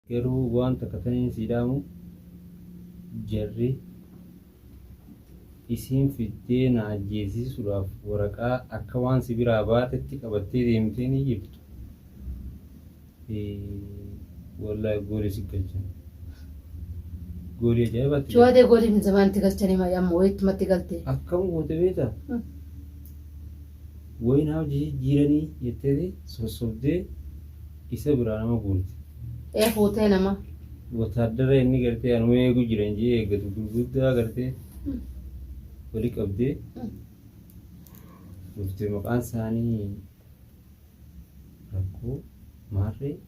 Garuu waan takka taniin sii dhaamu jarri isiin fiddee na ajjeesiisuudhaaf waraqaa akka waan si biraa baatetti qabattee deemtee ni jirtu fi wallaahi goolii si galchan goolii ajaa'ibaatti Shawaa tee goolii fi zamaan itti galchanii maayii amma wayii ittumatti galtee. akkam goote beektaa? Woyi naa hojii jijjiiranii jetteeti sossobdee isa biraa nama guurte. ee fuutee nama. Wotaaddara inni gartee anuma eegu jiran jee eeggatu gurguddaa gartee wali qabdee dhufte maqaan isaanii rakkoo maarree.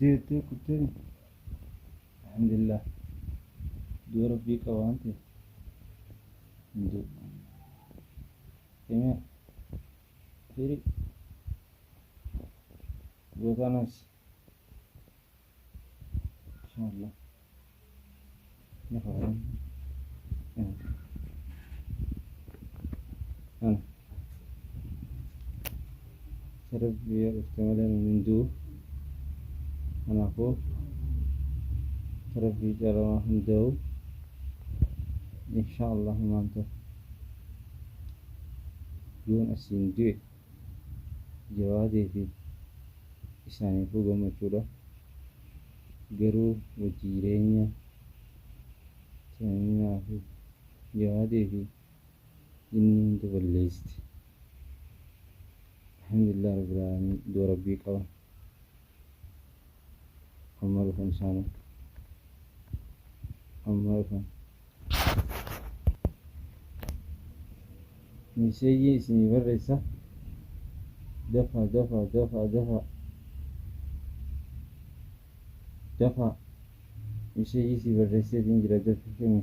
deettee kuttee miti alhamdulillah du'a rabbii qaba waan ta'e hin du'u kamiyaa hiri gootaa nafsi inshallah Rabbi yoo dhufte malee nuun hin du'u. Kanaafuu Rabbi calamaa hin da'u. Inshaa Allah himaan ta'u. Yoon asiin du'e jawaadee fi isaaniifuu gammachuudha. Garuu wajjiireenya Chaayinaa fi jabaatee fi jinni hunda balleessite. Alhamdulillah Rabbil Aalamiin iddoo Rabbii qaba. Amma dhufan isaanu. Amma dhufan. Miseejii isinii barreessa dafaa dafaa dafaa dafaa dafaa miseejii sii barreesseetiin jira dafii kenni.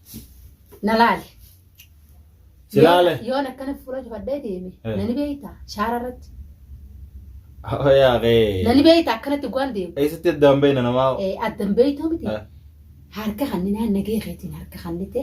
na laale. Si laale? Yoon- Yoon akkana fuula cufadhee deeme Eh. nani beeyta shaara irratti Yaa kee. nani beeyta akkanatti waan deemu Eessatti addaan beeyna namaa? Eh, addan beeytuu miti Eh. harka kanni naan nagee keetiin harka kannite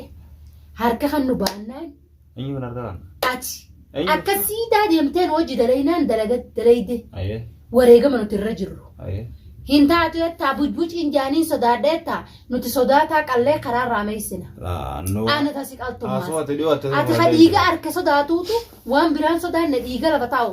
harka kan nu baannaan Eenyu kan harka kan? Ati Eenyu akka jechuun? siidaa deemteen hojii dalaynaan dalaga dalayde Ayee. wareegama nuti irra jirru. Ayee. Hin taatu jettaa bujbuciin jaaniin sodaadha jettaa nuti sodaataa qallee karaa irraa meessina. Laannoo. Ana tasi Haasoo qaltummaa. ati dhiyoo ati. Ati ka dhiiga harka sodaatuutu waan biraan sodaanne dhiiga lafa taa'u.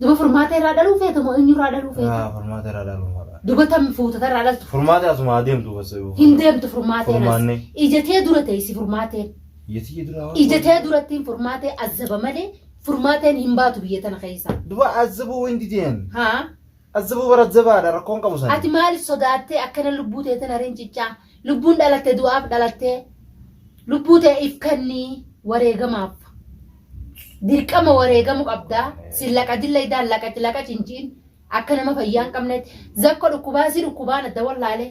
Duba furmaata irraa dhaluu feeta moo eenyu irraa dhaluu feeta? Haa furmaata irraa dhaluu fadha. Duba tam fuutata irraa dhaltu. Furmaata asuma adeemtu bas. Hin deemtu furmaateen as. Furmaanne. Ijatee dura teessi furmaateen. Yetii dura waan. Ijatee durattiin furmaatee azzaba malee furmaateen hin baatu biyya tana keessa. Duba azabuu wanti ta'een. Haa? Azzabuu bara jabaadha rakkoon qabu sana. Ati maaliif sodaattee akkana lubbuu teetan hariin ciccaa? Lubbuun dhalatte du'aaf dhalattee lubbuu tee if kannii wareegamaaf. Dirqama wareegamu qabdaa sin laqadin laydaan laqaci laqaci hin jiin akka nama fayyaa hin qabnetti zakko dhukkubaa si dhukkubaan adda wallaalee.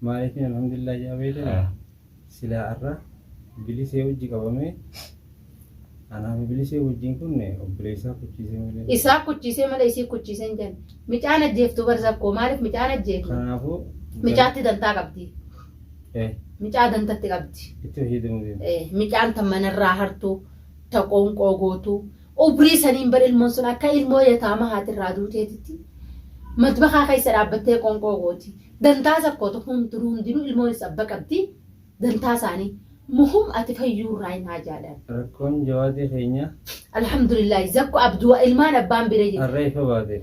Maaliifin alhamdulillah ja'a beekina silaa arra bilisee wajji qabamee anaa fi bilisee wajjin kun obboleessaa kuchiisee malee. Isaa kuchiisee malee isii kuchiisee hin jenne. Micaan ajjeeftu bar zakkoo maaliif micaan ajjeeftu? Kanaafuu. Micaatti dantaa qabdi. Micaa dantatti qabdi. Itti fayyadamu deema. Micaan tan manarraa hartu ta qoonqoo gootu. Umrii saniin bar ilmoon sun akka ilmoo yataama haati irraa duuteetitti matbakaa keessa dhaabbattee qoonqoo gooti. Dantaa sakkootu hundinuu hundinuu ilmoon is abba qabdi. Dantaa isaanii. Muhum ati fayyuu irraa hin haajaadhaan. Rakkoon jawaadii keenya. Alhamdulillah zakko abduu ilmaan abbaan bira jirti. Harree ifa baate.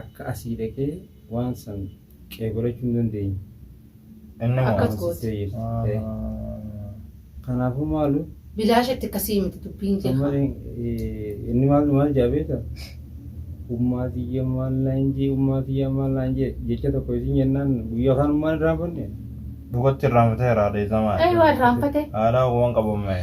akka asii dhaqee waan san qeebalachuu hin dandeenye. Inni moo? Akkas gooti. Amansiisee jirti. Eh, Ahaa. Kanaafuu maalu Bilaashetti akkasii miti dubbiin jee amma haa. eh, inni maal maal jaa beekta? Ummaa tiyya maal naan jee ummaa tiyya maal naan jee jecha tokko isin jennaan guyyaa kaan maal irraa banne? Dhugatti irraanfatee irraa dhiisamaa. Ee waan raanfate. Haadhaa waan qabamee.